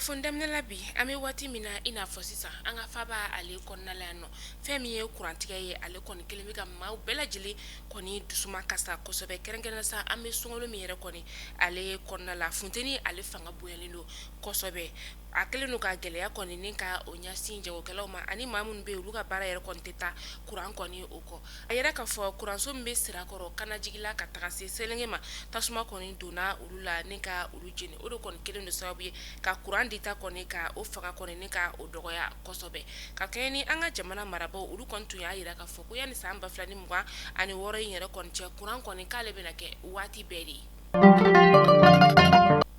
kunnafoni daminɛ la bi an bɛ waati min na i n'a fɔ sisan an ka faaba ale kɔnɔna la yan nɔ fɛn min ye kurantigɛ ye ale kɔni kɛlen bɛ ka maaw bɛɛ lajɛlen kɔni dusumakasi kosɛbɛ kɛrɛnkɛrɛnnen sa an bɛ sunkalo min yɛrɛ kɔni ale kɔnɔna la funteni ale fanga bonyalen don kosɛbɛ a kɛlen don ka gɛlɛya kɔni ni ka o ɲɛsin jagokɛlaw ma ani maa minnu bɛ yen olu ka baara yɛrɛ kɔni tɛ taa kuran kɔni o kɔ a yira k'a fɔ kuranso min bɛ sirakɔrɔ kanajigila ka taga se selenge ma tasuma kɔni donna olu la ni ka olu jeni o de kɔni kɛlen don sababu ye ka kuran dita kɔni ka o fanga kɔni ni ka o dɔgɔya kosɛbɛ ka kɛɲɛ ni an ka jamana marabaaw olu kɔni tun y'a yira k'a fɔ ko yanni san ba fila ni mugan ani wɔɔrɔ in yɛrɛ kɔni cɛ kuran kɔni k'ale bɛna kɛ waati bɛɛ de ye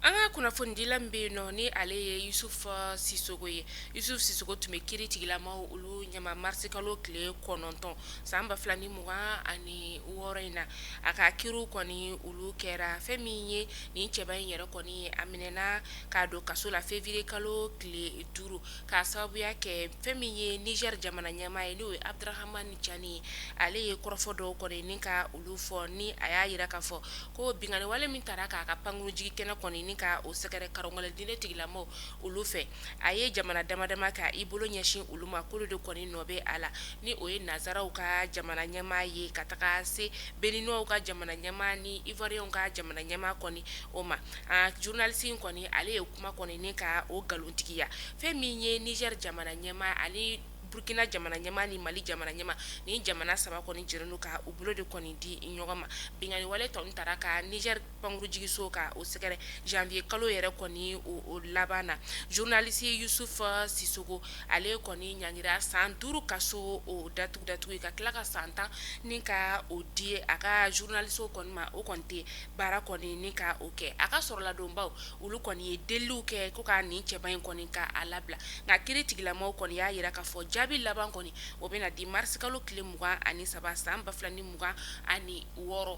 An ka kunnafonidila min bɛ yen nɔ ni ale ye yusufu sisoko ye yusufu sisoko tun bɛ kiiritigilamaw olu ɲɛma marisikalo tile kɔnɔntɔn san ba fila ni mugan ani wɔɔrɔ in na a ka kiiriw kɔni olu kɛra fɛn min ye nin cɛba in yɛrɛ kɔni a minɛna k'a don kaso la février kalo tile duuru k'a sababuya kɛ fɛn min ye Niger jamana ɲɛmaa ye n'o ye abudurahamani cani ye ale ye kɔrɔfɔ dɔw kɔni ni ka olu fɔ ni a y'a yira k'a fɔ ko binkanniwale min taara k'a ka pankurunjigikɛnɛ kɔni ni ka o sɛgɛrɛ karɔngɛlɛn diinɛ tigilamaw olu fɛ, a ye jamana dama dama ta k'i bolo ɲɛsin olu ma k'olu de kɔni nɔ bɛ a la ni o ye nansaraw ka jamana ɲɛmaa ye ka taga se beninuaw ka jamana ɲɛmaa ni ivoiriyɛnw ka jamana ɲɛmaa kɔni o ma, an ka journaliste in kɔni ale ye kuma kɔni ni ka o nkalontigiya fɛn min ye Niger jamana ɲɛmaa ani burukina jamana ɲɛmaa ni mali jamana ɲɛmaa nin jamana saba kɔni jɛlen don ka u bolo de kɔni di ɲɔgɔn ma binkanniwale tun taara ka Niger pankurunjigiso ka o sɛgɛrɛ janvier kalo yɛrɛ kɔni o laban na journaliste yusufu sisoko ale kɔni ɲangira san duuru kaso o datugu datugu ye ka tila ka san tan ni ka o di a ka zurunaliso kɔni ma o kɔni tɛ baara kɔni ni ka o kɛ a ka soronadonbaw olu kɔni ye deliw kɛ ko ka nin cɛba in kɔni ka a labila nka kiiritigilamaw kɔni y'a yira k'a fɔ jaabi laban kɔni o bɛna di marisikalo tile mugan ani saba san ba fila ni mugan ani wɔɔrɔ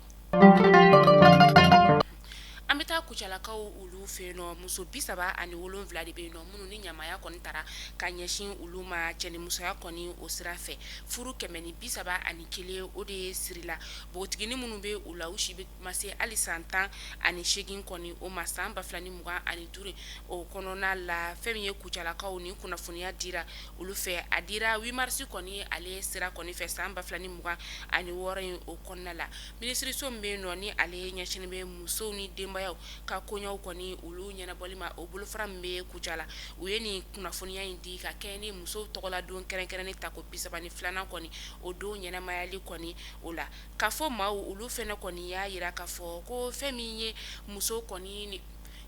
an bɛ taa kucalakaw olu fɛ yen nɔ muso bi saba ani wolonwula de bɛ yen nɔ minnu ni ɲamaya kɔni taara ka ɲɛsin olu ma cɛnimusoya kɔni o sira fɛ furu kɛmɛ ni bi saba ani kelen o de ye sirila npogotigiini minnu bɛ u la u si ma se hali san tan ani segin kɔni o ma san ba fila ni mugan ani duuru o kɔnɔna la fɛn min ye kucalakaw nin kunnafoniya dira olu fɛ a dira huit mars kɔni ale sira kɔni fɛ san ba fila ni mugan ani wɔɔrɔ in o kɔnɔna la minisiriso min bɛ yen nɔ ni ale ɲɛsin bɛ musow ni denbayaw ka koɲɛw kɔni olu ɲɛnabɔli ma o bolofara min bɛ kucala u ye nin kunnafoniya in di ka kɛɲɛ ni musow tɔgɔla don kɛrɛnkɛrɛnnen tako bi saba ni filanan kɔni o don ɲɛnamayali kɔni o la Kafo maaw olu fɛnɛ kɔni y'a yira ka fɔ ko fɛn min ye musow kɔni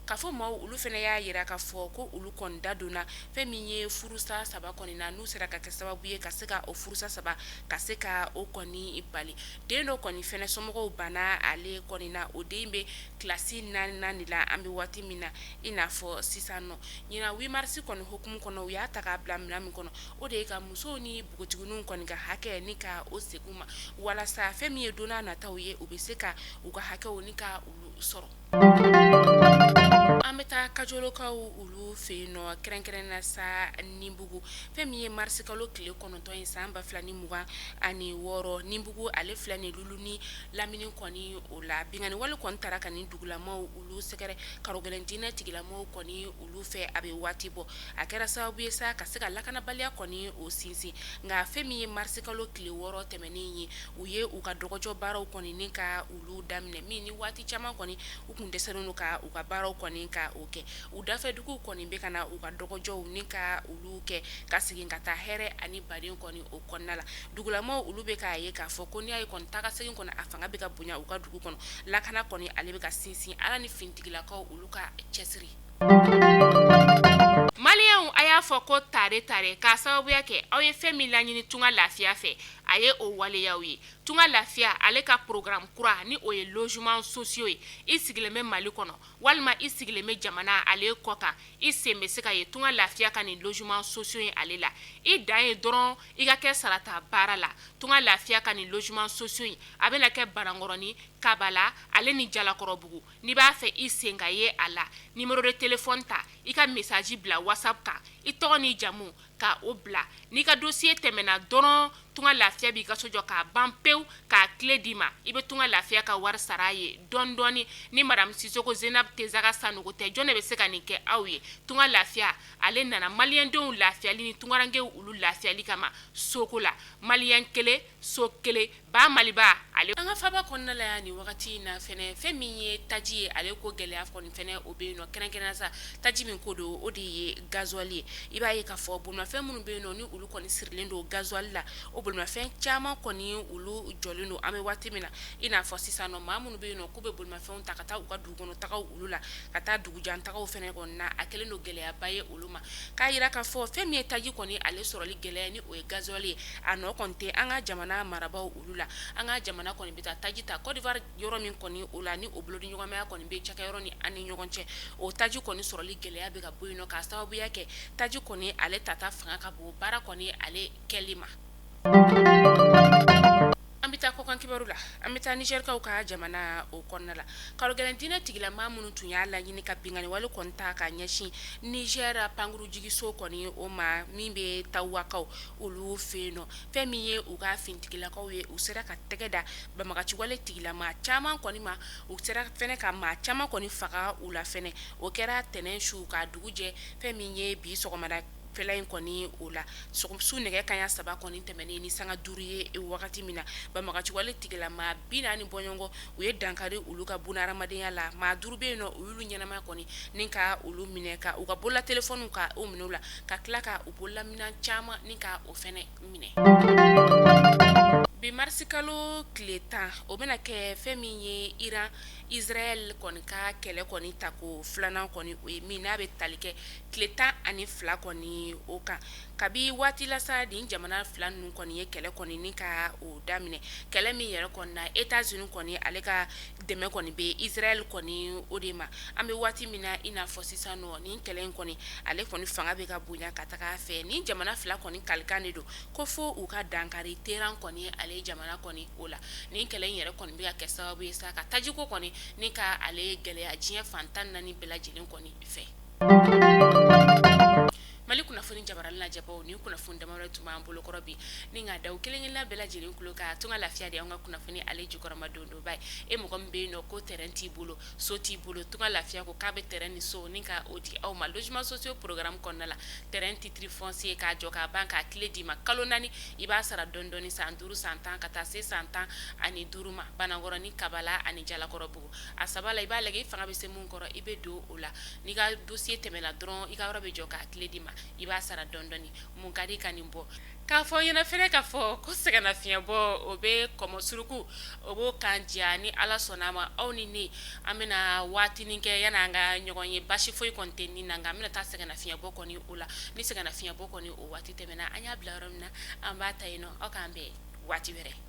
kafo maaw olu fɛnɛ y'a yira ka fɔ ko olu kɔni da donna fɛn min ye furusa saba kɔni na n'u sera ka kɛ sababu ye ka se ka o furusa saba ka se ka o kɔni bali den dɔ kɔni fɛnɛ somɔgɔw banna ale kɔni na o den bɛ kilasi naani de la an bɛ waati min na i n'a fɔ sisan nɔ ɲinan huit marisi kɔni hukumu kɔnɔ u y'a ta k'a bila minɛn min kɔnɔ o de ye ka musow ni npogotigininw kɔni ka hakɛ ni ka o segin u ma walasa fɛn min ye don nataw ye u bɛ se ka u ka hakɛw ni ka olu sɔrɔ an bɛ taa kajolokaw olu fɛ yen nɔ kɛrɛnkɛrɛnnenya sa ninbugu fɛn min ye marisi kalo tile kɔnɔntɔn ye san ba fila ni mugan ani wɔɔrɔ ninbugu ale filɛ nin luluni lamini kɔni o la binkanniwale kɔni taara ka nin dugulamaw olu sɛgɛrɛ karogɛlɛn diinɛ tigilamaw kɔni olu fɛ a bɛ waati bɔ a kɛra sababu ye sa ka se ka lakanabaliya kɔni o sinsin nka fɛn min ye marisikalo tile wɔɔrɔ tɛmɛnen ye u ye u ka dɔgɔjɔ baaraw kɔni ni ka olu daminɛ min ni waati caman kɔni u kun dɛsɛlen don ka u ka baaraw kɔni ka o kɛ u dafɛduguw kɔni bɛ ka na u ka dɔgɔjɔw ni ka olu kɛ ka segin ka taa hɛrɛ ani baden kɔni o kɔnɔna la dugulamaw olu bɛ k'a ye k'a fɔ ko n'i y'a ye kɔni taga segin kɔni a fanga bɛ ka bonya u ka dugu kɔnɔ lakana kɔni ale bɛ ka sinsin ala ni finitigilakaw olu ka cɛsiri Maliyɛnw a y'a fɔ ko tare tare k'a sababuya kɛ aw ye fɛn min laɲini tunga lafiya fɛ a ye o waleya aw ye tunga lafiya ale ka programme kura ni o ye logement sociaux ye i sigilen bɛ mali kɔnɔ walima i sigilen bɛ jamana ale kɔ kan i sen bɛ se ka ye tunga lafiya ka nin logement sociaux ye ale la i dan ye dɔrɔn i ka kɛ sarata baara la tunga lafiya ka nin logement sociaux in a bɛna kɛ banankɔrɔnin kabala ale ni jalakɔrɔbugu n'i b'a fɛ i sen ka ye a la numéro de téléphone ta i ka message bila WhatsApp kan i tɔgɔ ni jamu ka o bila n'i ka dossier tɛmɛna dɔrɔn tunga lafiya b'i ka so jɔ k'a ban pewu k'a clé d'i ma i bɛ tunga lafiya ka wari sara a ye dɔɔni dɔɔni ni madamu sisoko zenabu tesaga sanogo tɛ jɔn de bɛ se ka nin kɛ aw ye tunga lafiya ale nana maliyɛndenw lafiyali ni tungarankew olu lafiyali kama soko la maliyɛn kelen so kelen ba maliba ale an ka faba kɔnɔna la yan ni wagati in na fɛnɛ fɛn min ye taji ye ale ko gɛlɛya kɔni fɛnɛ o bɛ yen nɔ kɛrɛnkɛrɛnnenya sa taji min ko don o de ye gasoil ye i b'a ye k'a fɔ bolimafɛn minnu bɛ yen nɔ ni olu kɔni sirilen don gasoil la o bolimafɛn caman kɔni olu jɔlen don an bɛ waati min na i n'a fɔ sisan nɔ maa minnu bɛ yen nɔ k'u bɛ bolimafɛnw ta ka taa u ka dugu kɔnɔ tagaw olu la ka taa dugujantagaw fɛnɛ kɔni na a kɛlen don gɛlɛyaba ye olu ma k'a yira k'a fɔ fɛn min ye taji kɔni ale sɔrɔli gɛlɛya ni o ye gasoil ye a nɔ kɔni tɛ an ka jamana marabaaw olu la an ka jamana kɔni bɛ taa taji ta Côte d'Ivoire yɔrɔ min kɔni o la ni o bolodiɲɔgɔnmaya kɔni bɛ cakɛyɔrɔ ni an ni ɲɔgɔn cɛ o taji kɔni sɔrɔli gɛlɛya bɛ ka bɔ yen nɔ k'a sababuya kɛ taji kɔni ale tata fanga ka bon baara kɔni ale kɛli ma An bɛ taa kɔkan kibaru la an bɛ taa Nizɛrikaw ka jamana o kɔnɔna la karogɛlɛn diinɛ tigila maa minnu tun y'a laɲini ka binkanni wale kɔni ta ka ɲɛsin Nizɛri pankurunjigiso kɔni o ma min bɛ Tawakaw olu fɛ yen nɔ fɛn min ye u ka finitigilakaw ye u sera ka tɛgɛ da banbagaciwale tigila maa caman kɔni ma u sera fana ka maa caman kɔni faga u la fana o kɛra tɛnɛn su ka dugu jɛ fɛn min ye bi sɔgɔmada fɛla in kɔni o la su nɛgɛ kanɲɛ saba kɔni tɛmɛnen ni sanga duuru ye wagati min na banbagaciwale tigila maa bi naani bɔɲɔgɔn u ye dankari olu ka bunaadamadenya la maa duuru bɛ yen nɔ u y'olu ɲɛnama kɔni ni ka olu minɛ ka u ka bolola telefɔniw ka o minɛ u la ka tila ka u bolola minɛn caman ni ka o fana minɛ bi marisi kalo tile tan o bɛna kɛ fɛn min ye iran izrayɛli kɔni ka kɛlɛ kɔni tako filanan kɔni o ye min n'a bɛ tali kɛ tile tan ani fila kɔni o kan kabi waati la sa nin jamana fila ninnu kɔni ye kɛlɛ kɔni ni ka o daminɛ kɛlɛ min yɛrɛ kɔni na Etazini kɔni ale ka dɛmɛ kɔni bɛ izrayɛli kɔni o de ma an bɛ waati min na i n'a fɔ sisan nɔ nin kɛlɛ in kɔni ale kɔni fanga bɛ ka bonya ka taga fɛ nin jamana fila kɔni kalikan de don ko fo u ka dankari Teran kɔni ale jamana kɔni o la nin kɛlɛ in yɛrɛ kɔni bɛ ka kɛ sababu ye sa ka tajiko kɔni ni ka ale gɛlɛya diɲɛ fan tan naani bɛɛ lajɛlen kɔni fɛ Mali kunnafoni jabaranin lajɛbaw nin kunnafoni damadɔ tun b'an bolo kɔrɔ bi ni ka da aw kelen-kelenna bɛɛ lajɛlen kulo kan Tunga Lafiya de an ka kunnafoni ale jukɔrɔmadondonba ye mɔgɔ min bɛ yen nɔ ko tɛrɛn t'i bolo so t'i bolo Tunga Lafiya ko k'a bɛ tɛrɛn ni so ni ka o di aw ma lozeman sosiyo porogaramu kɔnɔna la tɛrɛn titiri fɔnsiye k'a jɔ k'a ban k'a kile d'i ma kalo naani i b'a sara dɔɔni dɔɔni san duuru san tan ka taa se san tan ani duuru ma Banankɔrɔ ni kabala ani jalakɔrɔbugu a saba la i b'a lajɛ i fanga bɛ se min kɔrɔ i bɛ don o la n'i ka dosiye tɛmɛna dɔrɔn i ka yɔrɔ bɛ jɔ k'a kile d'i ma i b'a sara dɔɔni dɔɔni mun ka di ka nin bɔ k'a fɔ ɲɛna fana k'a fɔ ko sɛgɛnnafiɲɛbɔ o bɛ kɔmɔ suruku o b'o kan diya ni ala sɔnna a ma aw ni ne an bɛna waatinin kɛ yanni an ka ɲɔgɔn ye basi foyi kɔni tɛ nin na nka an bɛna taa sɛgɛnnafiɲɛbɔ kɔni o la ni sɛgɛnnafiɲɛbɔ kɔni o waati tɛmɛna an y'a bila yɔrɔ min na an b'a ta yen nɔ aw k'an bɛn waati wɛrɛ